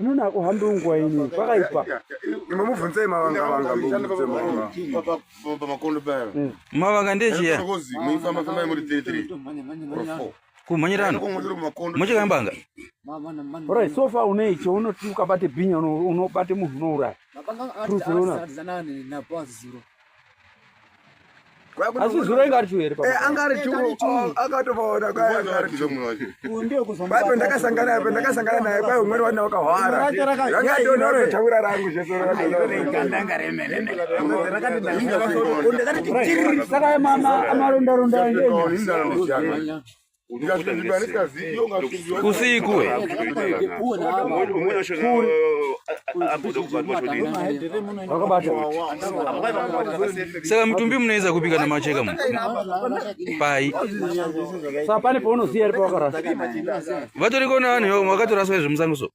Unoona akuhambe ungwa ini kwakaipa. Imwe mubvunzei mavanga vanga mubvunze mavanga. Papa papa makondo paya. Hmm. Mavanga ndechiya. Ngozi muifamba famba muri 33. Kumhanyirana. Muchika mbanga. Alright, so far une icho unoti ukabate binya unobate munhu unouraya. Mabanga akati anozana nani na boss zero. asi zuro inga ari chuhere eh, anga ari chu oh, akatovaona kwaiaaipo ndakasangana apo ndakasangana naye kwai umweni wana wakahwara angadonaotaura rangu zvesaka marondaronda usiku saka mutumbi munoedza kubika namacheka mu pai pane paunoziva ari pawakarasa vatoriko navanhu vakatoraswa izvemusango so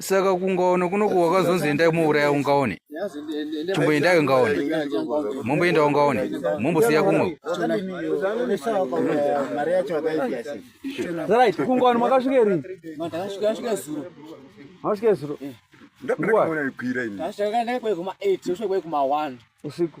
saka kungaone kunoku wakazonzi endai muuraya ungaone chimboendai ungaone momboenda ungaone mombosiya kumwe kungaone makasvike rii makasvike zuro ndakona kuona ikwira ini ndakona kuona ikwira kuma 8 ndakona kuona kuma 1 usiku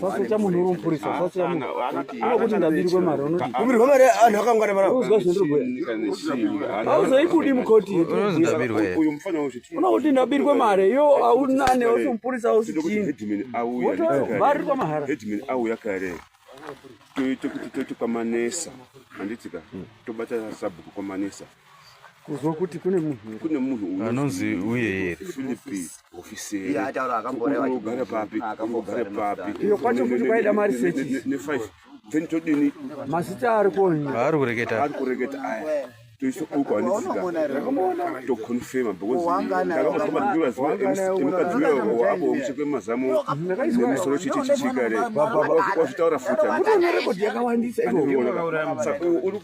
sasecha munhu uri mupurisa sasecha munhu unokuti ndabirwe mari unoti kubirwa mari anhu akangwara mara uzwa zvandiri kubhuya auzoikudi mukoti unokuti ndabirwe mari yo aunane usi mupurisa usi chini wotobarirwa mahara auya kare toite kuti toite kwamanesa handitika tobata sabhuku kwamanesa kuzwa kuti kune munhu kune munhu anonzi uye here Philippe officer ya taura akamboreva kugara papi akambogara papi iyo kwacho kuti kwaida mari sechi ne 5 then todini mazita ari konyi ari kureketa ari kureketa aya toisa uko anisika to confirm because ndakambosoma ndiwa zuwa emukadzi uyo wabo omuchekwe mazamu nemusoro chiti chichikare wazvitaura futi kutonerekodi yakawandisa iwo saka uri